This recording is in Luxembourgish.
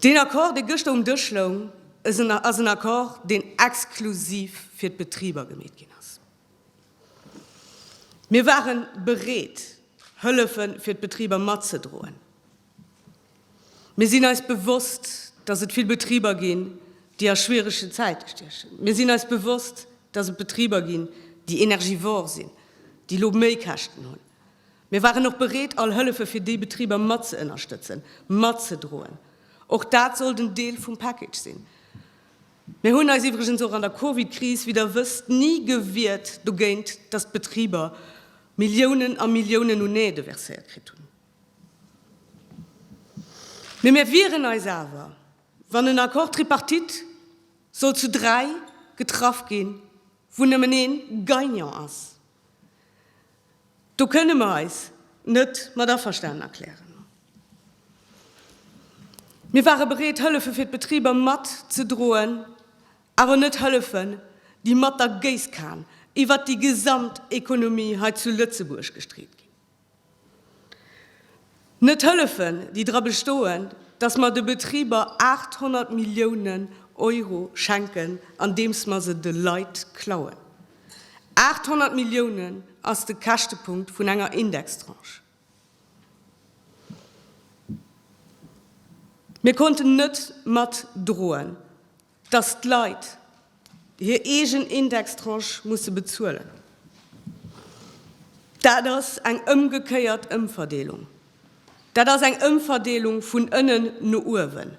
Deen Accord, dee gëschter um Dësch loung, ass en Accord, deen exklusiv fir d'Betriber gemeet ginn ass. Mir ware bereet, Hëllefe fir d'Betriber matzedroen. Mir sinn eis bewosst, dass et vill Betriber ginn, déi a schwieregen Zäite stiechen. Mir sinn eis bewosst, dass et Betriber ginn, déi energivor sinn, déi elo méi Käschten hunn. Mir waren och bereet, all Hëllefe fir déi Betriber mat ze ënnerstëtzen, mat ze droen. Och dat sollt en Deel vum Package sinn. Mir hunn eis iwwregens och an der Covid-Kris, wéi Der wësst, ni gewiert dogéint, dass d'Betriber Milliounen a Milliounen un Aide verséiert kritt hunn. Mee mir wieren eis awer, wann en Accord tripartite sollt zu dräi getraff ginn, wou nëmmen ee Gagnant ass, Do kënne mer eis net mat averstanen erklären. Mir ware bereet, Hëllefe fir d'Betriber matzedroen, awer net Hëllefen, déi mat der Géisskan iwwert déi gesamt Ekonomie hei zu Lëtzebuerg gestreet ginn. Net hëllefen, déi dra bestoen, datt mer de Betriber 800 Milliounen Euro schenken, andeems mer se de Leit klauen. 800 Milliounen ass de Käschtepunkt vun enger Indextranche. Mir konnten net matdroen, Dass d'Leit hir eegen Indextranche musse bezuelen, dat ass eng ëmgekéiert Ëmverdeelung. Dat ass eng Ëmverdeelung vun ënnen no uewen.